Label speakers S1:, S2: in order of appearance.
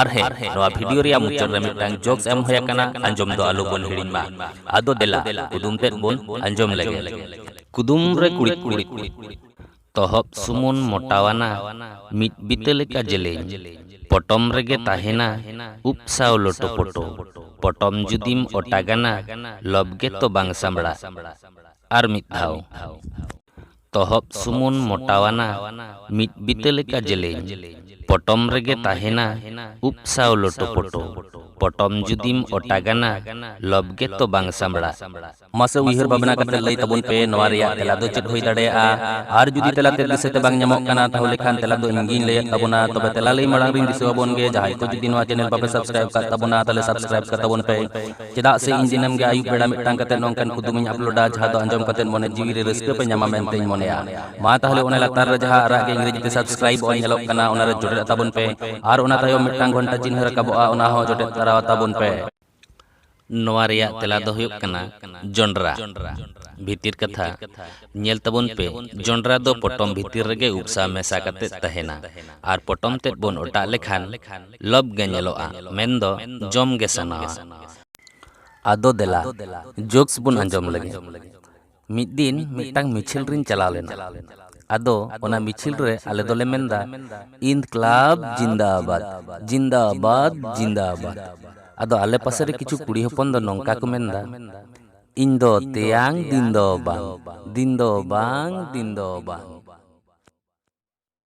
S1: ᱟᱨ ᱦᱮᱸ ᱱᱚᱣᱟ ᱵᱷᱤᱰᱤᱭᱳ ᱨᱮᱭᱟᱜ ᱢᱩᱪᱟᱹᱫ ᱨᱮ ᱢᱤᱫᱴᱟᱝ ᱡᱳᱠᱥ ᱮᱢ ᱦᱩᱭ ᱟᱠᱟᱱᱟ ᱟᱸᱡᱚᱢ ᱫᱚ ᱟᱞᱚ ᱵᱚᱱ ᱦᱤᱲᱤᱧ ᱢᱟ ᱟᱫᱚ ᱫᱮᱞᱟ ᱠᱩᱫᱩᱢ ᱛᱮᱫ ᱵᱚᱱ ᱟᱸᱡᱚᱢ ᱞᱮᱜᱮ ᱠᱩᱫᱩᱢ ᱨᱮ ᱠᱩᱲᱤᱫ ᱠᱩᱲᱤᱫ ᱛᱚᱦᱚᱵ ᱥᱩᱢᱩᱱ ᱢᱚᱴᱟᱣᱟᱱᱟ ᱢᱤᱫ ᱵᱤᱛᱟᱹ ᱞᱮᱠᱟ ᱡᱮᱞᱮᱧ ᱯᱚᱴᱚᱢ ᱨᱮᱜᱮ ᱛᱟᱦᱮᱱᱟ ᱩᱵ ᱥᱟᱶ ᱞᱚᱴᱚ ᱯᱚᱴᱚ ᱯᱚᱴᱚᱢ ᱡᱩᱫᱤᱢ ᱚᱴᱟᱜᱟᱱᱟ ᱞᱚᱵᱽ ᱜᱮᱛᱚ ᱵᱟᱝ ᱥᱟᱢᱵᱲᱟᱜ ᱟᱨ ᱢᱤᱫ ᱫᱷᱟᱣ ᱛᱚᱦᱚᱵ ᱥᱩᱢᱩᱱ ᱢᱚᱴᱟᱣᱟᱱᱟ ᱢᱤᱫ ᱵᱤᱛᱟᱹ ᱞᱮᱠᱟ ᱡᱮᱞᱮᱧ᱾ ᱯᱚᱴᱚᱢ ᱨᱮᱜᱮ ᱛᱟᱦᱮᱸᱱᱟ ᱩᱵ ᱥᱟᱶ ᱞᱚᱴᱚᱯᱚᱴᱚ᱾ ᱯᱚᱴᱚᱢ ᱡᱩᱫᱤᱢ ᱚᱴᱟᱜᱟᱱᱟ ᱞᱚᱵᱽ ᱜᱮᱛᱚ ᱵᱟᱝ ᱥᱟᱸᱵᱽᱲᱟᱜ᱾ ᱢᱟᱥᱮ ᱩᱭᱦᱟᱹᱨ ᱵᱷᱟᱵᱽᱱᱟ ᱠᱟᱛᱮ ᱞᱟᱹᱭ ᱛᱟᱵᱚᱱ ᱯᱮ ᱱᱚᱣᱟ ᱨᱮᱭᱟᱜ ᱛᱮᱞᱟ ᱫᱚ ᱪᱮᱫ ᱦᱩᱭ ᱫᱟᱲᱮᱭᱟᱜᱼᱟ? ᱟᱨ ᱡᱩᱫᱤ ᱛᱮᱞᱟ ᱛᱮᱫ ᱫᱤᱥᱟᱹ ᱛᱮ ᱵᱟᱝ ᱧᱟᱢᱚᱜ ᱠᱟᱱᱟ ᱛᱟᱦᱚᱞᱮ ᱠᱷᱟᱱ ᱛᱮᱞᱟ ᱫᱚ ᱤᱧ ᱜᱮᱧ ᱞᱟᱹᱭᱟᱫ ᱛᱟᱵᱚᱱᱟ᱾ ᱛᱚᱵᱮ ᱛᱮᱞᱟ ᱞᱟᱹᱭ ᱢᱟᱲᱟᱝ ᱨᱤᱧ ᱫᱤᱥᱟᱹᱣᱟᱵᱚᱱ ᱜᱮ ᱡᱟᱦᱟᱸᱭ ᱠᱚ ᱡᱩᱫᱤ ᱱᱚᱣᱟ ᱪᱮᱱᱮᱞ ᱵᱟᱯᱮ ᱥᱟᱵᱽᱥᱠᱨᱟᱭᱤᱵᱽ ᱟᱠᱟᱫ ᱛᱟᱵᱚᱱᱟ ᱛᱟᱦᱚᱞᱮ ᱥᱟᱵᱽᱥᱠᱨᱟᱭᱤᱵᱽ ᱠᱟᱛᱟᱵᱚᱱ ᱯᱮ᱾ ᱪᱮᱫᱟᱜ ᱥᱮ ᱤᱧ ᱫᱤᱱᱟᱹᱢ ᱜᱮ ᱟᱹᱭᱩᱵ ᱵᱮᱲᱟ ᱢᱤᱫᱴᱟᱝ ᱠᱟᱛᱮ ᱱᱚᱝᱠᱟᱱ ᱠᱩᱫᱩᱢ ᱤᱧ ᱟᱯᱞᱳᱰᱟ ᱡᱟᱦᱟᱸ ᱫᱚ ᱟᱸᱡᱚᱢ ᱠᱟᱛᱮ ᱢᱚᱱᱮ ᱡᱤᱣᱤ ᱨᱮ ᱨᱟᱹᱥᱠᱟᱹ ᱯᱮ ᱧᱟᱢᱟ ᱢᱮᱱᱛᱮᱧ ᱢᱚᱱᱮᱭᱟ ᱢᱟ ᱛᱟᱦᱞᱮ ᱚᱱᱟ ᱞᱟᱛᱟᱨ ᱨᱮ ᱡᱟᱦᱟᱸ ᱟᱨᱟᱜ ᱜᱮ ᱤᱝᱨᱮᱡᱤ ᱛᱮ ᱥᱟᱵᱥᱠᱨᱟᱭᱤᱵ ᱚᱞ ᱧᱮᱞᱚᱜ ᱠᱟᱱᱟ ᱚᱱᱟ ᱨᱮ ᱡᱚᱴᱮᱫ ᱛᱟᱵᱚᱱ ᱯᱮ ᱟᱨ ᱚᱱᱟ ᱛᱟᱭᱚᱢ ᱢᱤᱫᱴᱟᱝ ᱜᱷᱚᱱᱴᱟ ᱪᱤᱱᱦᱟᱹ ᱨᱟᱠᱟᱵᱚᱜᱼᱟ ᱚᱱᱟ ᱦᱚᱸ ᱡᱚᱴᱮᱫ ᱛᱟᱨᱟᱣ ᱛᱟᱵᱚᱱ ᱯᱮ ᱱᱚᱣᱟ ᱨᱮᱭᱟᱜ ᱛᱮᱞᱟ ᱫᱚ ᱦᱩᱭᱩᱜ ᱠᱟᱱᱟ ᱡᱚᱱᱰᱨᱟ ᱵᱷᱤᱛᱤᱨ ᱠᱟᱛᱷᱟ ᱧᱮᱞ ᱛᱟᱵᱚᱱ ᱯᱮ ᱡᱚᱱᱰᱨᱟ ᱫᱚ ᱯᱚᱴᱚᱢ ᱵᱷᱤᱛᱤᱨ ᱨᱮᱜᱮ ᱩᱯᱥᱟ ᱢᱮᱥᱟ ᱠᱟᱛᱮ ᱛᱟᱦᱮᱱᱟ ᱟᱨ ᱯᱚᱴᱚᱢ ᱛᱮᱫ ᱵᱚᱱ ᱚᱴᱟᱜ ᱞᱮᱠᱷᱟᱱ ᱞᱚᱵᱽ ᱜᱮ ᱧᱮᱞᱚᱜᱼᱟ ᱢᱮᱱ ᱫᱚ ᱡᱚᱢ ᱜᱮ ᱥᱟᱱᱟᱣᱟ᱾ ᱟᱫᱚ ᱫᱮᱞᱟ ᱡᱳᱠᱥ ᱵᱚᱱ ᱟᱸᱡᱚᱢ ᱞᱮᱜᱮ᱾ ᱢᱤᱫ ᱫᱤᱱ ᱢᱤᱫᱴᱟᱝ ᱢᱤᱪᱷᱤᱞ ᱨᱤᱧ ᱪᱟᱞᱟᱣ ᱞᱮᱱᱟ᱾ ᱟᱫᱚ ᱚᱱᱟ ᱢᱤᱪᱷᱤᱞ ᱨᱮ ᱟᱞᱮ ᱫᱚᱞᱮ ᱢᱮᱱ ᱫᱟ ᱤᱱᱫᱠᱞᱟᱵᱽ ᱡᱤᱱᱫᱟᱵᱟᱫᱽ ᱡᱤᱱᱫᱟᱵᱟᱫᱽ ᱡᱤᱱᱫᱟᱵᱟᱫᱽ᱾ ᱟᱫᱚ ᱟᱞᱮ ᱯᱟᱥᱮ ᱨᱮ ᱠᱤᱪᱷᱩ ᱠᱩᱲᱤ ᱦᱚᱯᱚᱱ ᱫᱚ ᱱᱚᱝᱠᱟ ᱠᱚ ᱢᱮᱱ ᱫᱟ ᱤᱧ ᱫᱚ ᱛᱮᱭᱟᱝ ᱫᱤᱱ ᱫᱚ ᱵᱟᱝ ᱫᱤᱱ ᱫᱚ ᱵᱟᱝ ᱫᱤᱱ ᱫᱚ ᱵᱟᱝ᱾